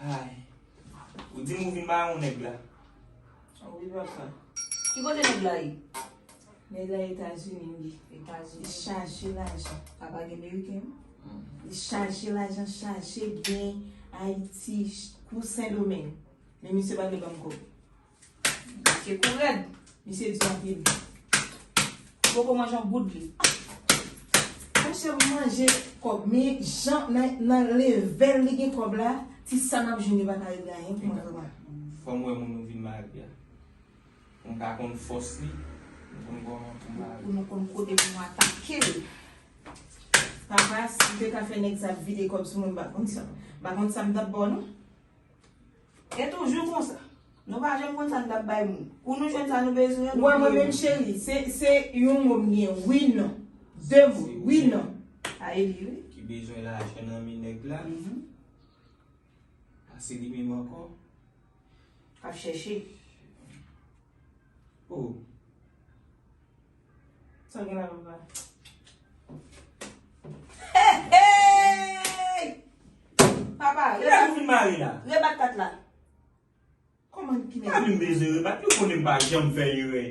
Aayy. Ou dim ou vin ba yon nèg la. Ou wi papa. Ki kote nèg la ye? Nèg la Etazini wi. Etazini. Li chaje lajan. Papa gen meriken wi. Li chaje lajan chaje byen Ayiti kou Sendomeng. Men misye pa vle banm kòb. Misye kou rèd. Misye di anpil. Ou poko manje yon goud li. Mwen chè ap manje kòb. Men jan nan level li gen kòb la. Ti sa nap jwenn li pa ka regle anyen pou mwen vre mwen. Fòm wè moun ou vin marye a. Mwen pa konn fòs li. Mwen konn kòman pou mwen marye. Pou nou konn kote pou mwen atake l. Papa si te ka fè nèg sa vide kòb sou mwen m pa konn sa. M pa konn sa m tap ba w non. E toujou konsa. Nou pa janm konn sa n t ap bay moun. Kou nou jwenn sa nou bezwen an, nou bliye moun. Ou wè mwen menm cheri, se yon mo m gen, wi non. De mo, wi non. A e li wi. Ki bezwen lajan nan men nèg la. A se li menm ankò. K ap chèche. O. Sa gen la papa. Hey! Papa, Ki la fin mare la? Rebat kat la. Koman ki nèg? Pa vin beze rebat, yo konnen m pa janm fè erè.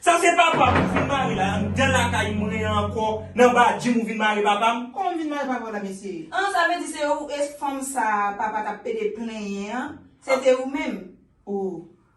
Sa se papa m ou fin mare la, anndan lakay mwen an ankò, nan badji m ou vin mare papa m? Koman m vin mare papa w la mesye? An, sa vle di se ou e fanm sa a papa t ap pede plenyen an, se te ou menm? O,